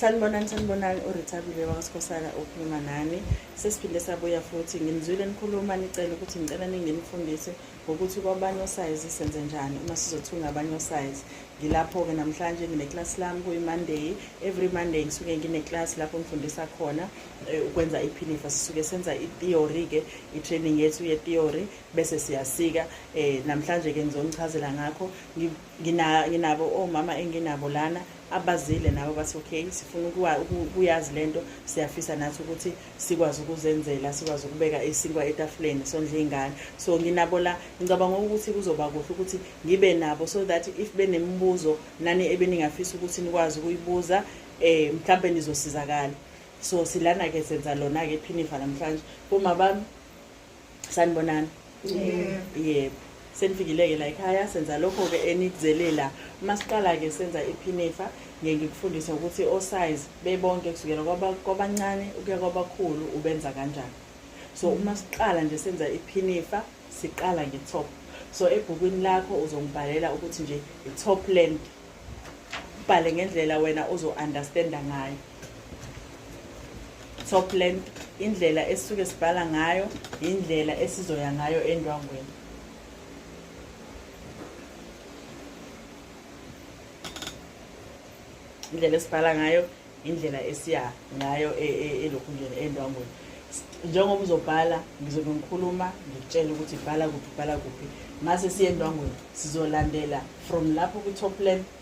sanibonani sanibonani urithabile wakasikhosana okhuluma nani sesiphinde sabuya futhi nginizwile nikhuluma nicela ukuthi ngicela ninginifundise ngokuthi kwabanye osayizi senze njani uma sizothunga abanye osayizi ngilapho-ke namhlanje ngineclasi lami kuyi-monday every monday ngisuke ngineclasi lapho ngifundisa khona eh, ukwenza iphinifa sisuke senza itheory-ke i-training yethu yetheory bese siyasika um namhlanje-ke ngizonichazela ngakho nginabo omama oh, enginabo lana abazile nabo bathi okay sifuna ukuyazi le nto siyafisa nathi ukuthi sikwazi ukuzenzela sikwazi ukubeka isinkwa etafuleni sondla iy'ngane so nginabo la ngicabanga ukuthi kuzoba kuhle ukuthi ngibe nabo so that if benemibuzo nani ebeningafisa ukuthi nikwazi ukuyibuza um eh, mhlawumbe nizosizakala so silana-ke senza lona-ke phinifa namhlanje boma bami sanibonani yebo senifikile-ke la ekhaya senza lokho-ke enikuzelela uma siqala-ke senza iphinifa ngeke ngikufundise ukuthi osize bebonke kusukela kwabancane ukuya kwabakhulu ubenza kanjani so mm. uma siqala nje senza iphinifa siqala nge-top so ebhukwini lakho uzongibhalela ukuthi nje i-top land ubhale ngendlela wena ozo-understanda ngayo top length indlela esisuke sibhala ngayo indlela esizoya ngayo endwangweni indlela esibhala ngayo indlela esiya ngayo e, e, elokhunjeni endwangweni njengoba uzobhala ngizobe ngikhuluma ngikutshela ukuthi bhala kuphi bhala kuphi mase siye endwangweni sizolandela from lapho kwi-top land